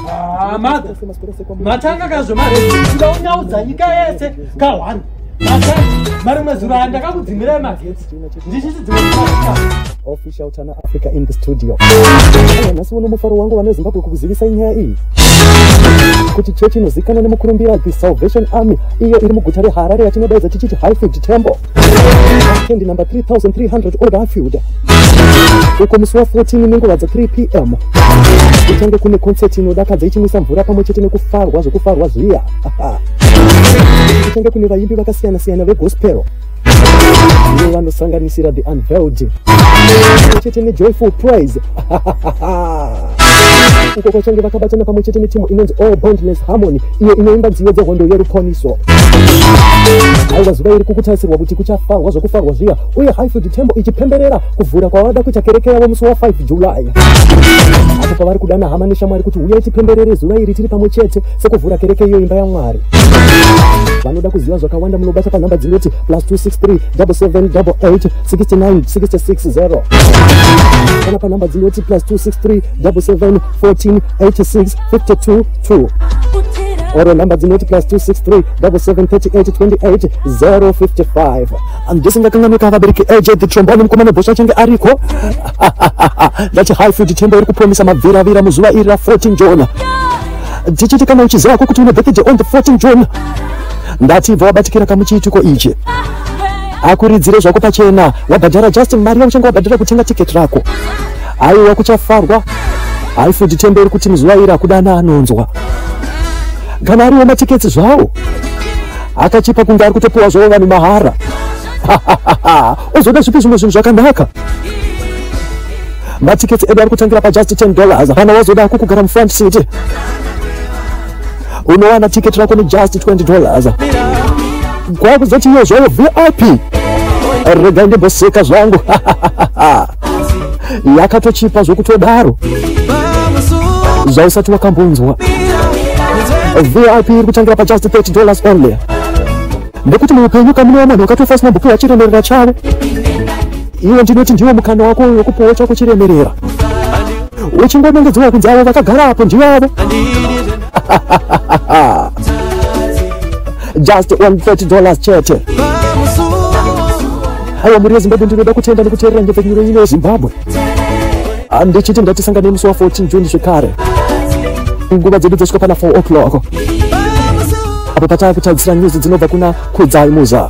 Ah, matanga kazvo mareunyaudza nyika yese kahwani mari mwezuro aya ndakakudzimirai magetsi ndichitidzimaofficial tana africa in the studio nhasi uno mufaro wangu vane zimbabwe kukuzivisai nyaya iyi kuti chechi inozivikanwa nemukurumbira the salvation army iyo iri muguta reharare yatinodaidza tichiti highfield temple Candy number 3300 Old Anfield uko musi wa 14 nenguva dza 3 pm kuchange kune concert inodakadza ichimwisa mvura pamwe chete nekufarwa zvekufarwa zviya kuchange kune vaimbi vakasiyana siyana vegospel ivo vanosanganisira the unveiled chete nejoyful prize uko kwachange vakabatana pamwe chete netimu inonzi all bondness harmony iyo inoimba nziyo dzehondo yerukoniso aiwa zuva iri kukutarisirwa kuti kuchafarwa zvokufarwa zviya uye highfield tembo ichipemberera kuvhura kwavada kuita kereke yavo musi wa 5 july apo pavari kudana hama neshamwari kuti huyai tipemberere zuva iri tiri pamwe chete sekuvhura kereke iyo imba yamwari vanoda kuziva zvakawanda munobata panhamba dzinoti plus 263 77 88 69 660 kana panhamba dzinoti plus 263 double seven fourteen eighty six fifty two two or number dzinoti plus 263773828 ndisingakanganwika vabereki aj the trombone mukomana bhosva achange ariko ndati high food tembo iri kupromisa mabviravira muzuva iri ra 14 jona tichiti kana uchiziva ko kuti une birthday on the 14 jona ndati bva wabatikira kamuchiitiko ichi Akuridzire zvako pachena wabhadhara just mari yauchanga wabhadhara kutenga ticket rako. Haiwa kuchafarwa. Haifudi temberi kuti muzuva iri akudana anonzwa. Kana ariwo matickets zvawo. Akachipa kunge ari kutopiwa zvawo vanhu mahara. Ozoda zvipi zvimwe zvinhu zvakanaka. Matickets edu ari kutangira pa just 10 dollars. Kana wazoda kukugara mu front seat. unowana ticket rako nejust 20 dollars kwakuzoti iyo zvayo vip regai ndimboseka zvangu yakatochipa zvokutodaro zvausati wakambonzwa vip iri kutangira pajust 30 dollars only Nekuti muupenyu kamunowa mwanhu wakatofa asina kupiwa chiremerera chavo. Iwe ndinoti ndiwo mukana wako uyo kupiwa chako chiremerera. Uchingonongedzwa kunzi avo vakagara apo ndivo avo. Just 130 dollars chete. Haiwa mhuri yeZimbabwe ndinoda kutenda nekuteerera nyepfenyuro ino yeZimbabwe. handichiti ndatisangane musi wa 14 june zvekare nguva dzedu dzosvika pana 4 o'clock apo pataa kutarisira nyuzi dzinobva kuna kudzai muza